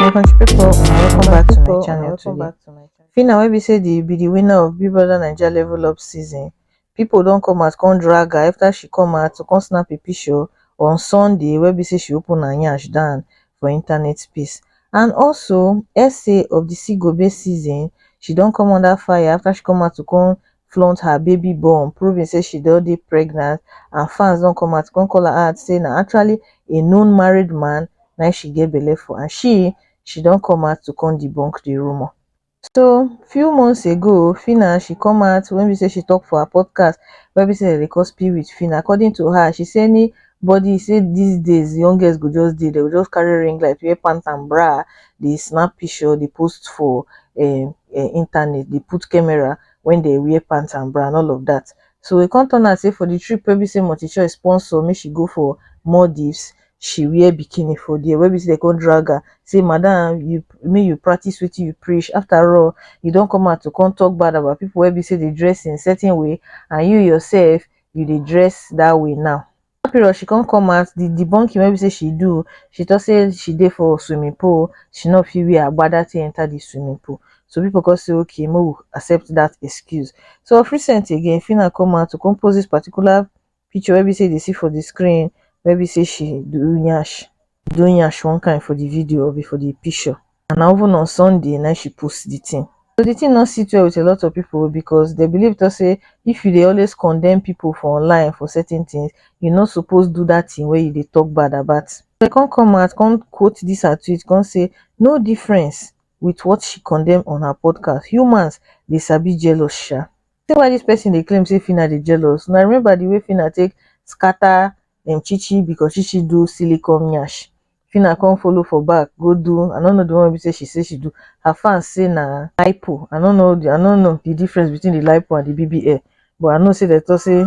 my country pipu una welcome back to my channel today. Phyna wey be say the be the winner of Big Brother Naija level up season, pipu don come out come drag her after she come out to come snap a picture on Sunday wey be say she open her yansh down for internet space and also essay of the Sigobe season, she don come under fire after she come out to come flaunt her baby bum proving say she don dey pregnant and fans don come out to come call her out say na actually a known married man na im she get belle for and she she don come out to come debunk the rumour so few months ago phyna she come out wey be say she talk for her podcast wey be say dem dey call spill with phyna according to her she say any body say this days young girls go just dey dem go just carry ring light wear pant and bra dey snap picture dey post for um internet dey put camera wen dey wear pant and bra and all of dat so e come turn out sey for di trip wey be sey multichoice sponsor make she go for Maldives she wear bikini for dia wey be sey dem come drag her sey madam you make you practice wetin you preach after all you don come out to come talk bad about pipu wey be sey dey dress in certain way and you yourself you dey dress dat way now. dat period she come come out di debunking wey be say she do o she tok say she dey for swimming pool o she no fit wear agbada take enter di swimming pool so people come say okay make we accept dat excuse so of recent again phyna come out to come post dis particular picture wey be say you dey see for di screen wey be say she do nyash. doing yash one kind for the video of for the picture and na even on sunday na she post the thing so the thing not sit well with a lot of people because they believe to say if you they always condemn people for online for certain things you not supposed do that thing where you they talk bad about they can't come out can't quote this her tweet can't say no difference with what she condemn on her podcast humans they sabi jealous sha say why this person they claim say fina they jealous now remember the way fina take scatter dem chichi because chichi do silly come nyash phyna come follow for back go do i no know the one wey be say she say she do her fans say na lipo i no know the i no know the difference between the lipo and the bbl but i know say dem talk say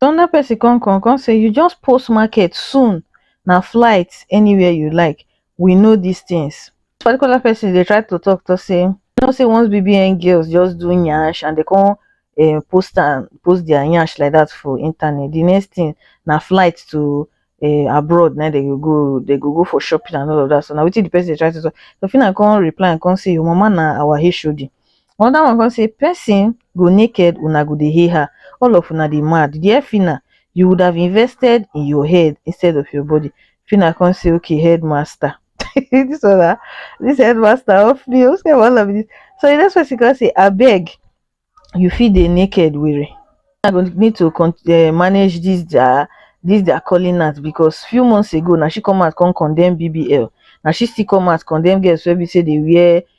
another person come come come say you just post market soon na flight anywhere you like we know dis tins. Dis particular pesin dey try to tok tok say you know say once BBN girls just do nyash and dem come um post am post dia nyash like dat for internet, di next tin na flight to um abroad na im dem go go, dem go go for shopping and all of dat, so na wetin di pesin dey try to tok. Tofinah come reply am come say your mama na our HOD, Another one come say person go naked una go dey hail her all of una dey mad dear Phyna you would have invested in your head instead of your body Phyna come say okay headmaster this one na this headmaster off me o say wahala be this so the next person come say abeg you fit dey naked were I go need to con uh, manage this their this their calling out because few months ago na she come out come condemn BBL na she still come out condemn girls wey be say dey wear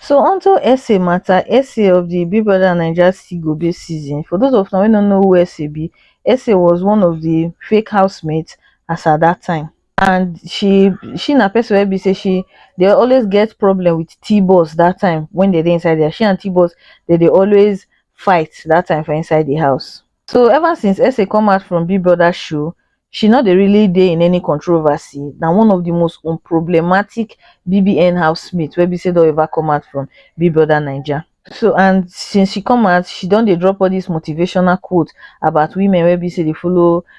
So on to SA matter, SA of the Big Brother Naija Still Go Be season. For those of now wey no know who SA be, SA was one of the fake housemates as at that time. And she she na person wey be say she dey always get problem with T-Boss that time when they dey inside there. She and T-Boss they dey always fight that time for inside the house. so ever since Essay come out from Big Brother show she no dey really dey in any controversy na one of the most unproblematic BBN housemates wey be say don ever come out from Big Brother Naija so and since she come out she don dey drop all this motivational quote about women wey be say dey follow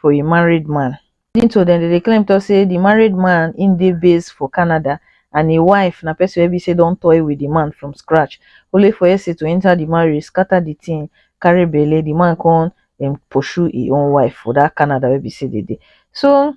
for a married man. According to dem, dem dey claim talk say the married man im dey based for Canada and im wife na person wey be say don toy with the man from scratch, only for Ese to enter the marriage, scatter the thing, carry belle, the man come um, pursue im own wife for that Canada wey be say dem dey. So,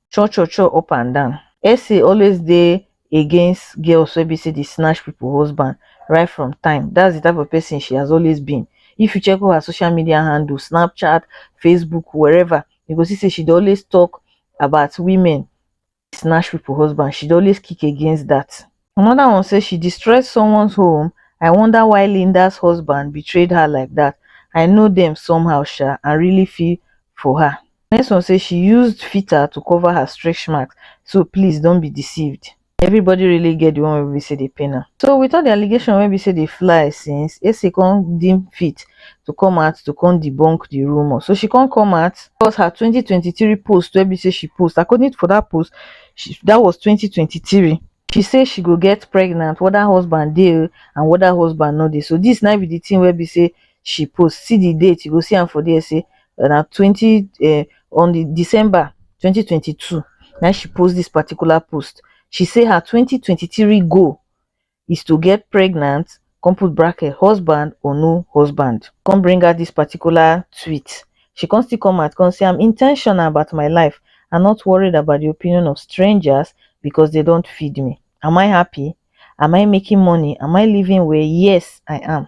cho cho cho up and down Essy always dey against girls wey be say dey snatch people husband right from time that's the type of person she has always been if you check all her social media handle snapchat facebook wherever you go see say she dey always talk about women snatch people husband she dey always kick against that anoda one say she destroy someone home i wonder why linda husband betray her like dat i know dem somehow sha and really feel for her next one say she used filter to cover her stretch marks so please don't be deceived everybody really get the one wey be say dey pain am so with all the allegation wey be say dey fly since ese come deem fit to come out to come debunk the rumour so she come come out cause her twenty twenty three post wey be say she post according to for that post dat was twenty twenty three she say she go get pregnant weda husband dey o and weda husband no dey so dis na be di tin wey be say she post see di date you go see am for dia say na twenty um on di December twenty twenty two na im she post dis particular post she say her twenty twenty three goal is to get pregnant come put bracket husband or no husband come bring out this particular tweet she come still come out come say i'm intentional about my life i'm not worried about the opinion of strangers because they don't feed me am i happy am i making money am i living well yes i am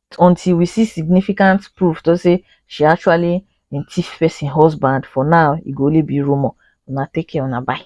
until we see significant proof to say she actually been thief person husband for now e go only be rumour una take care una bye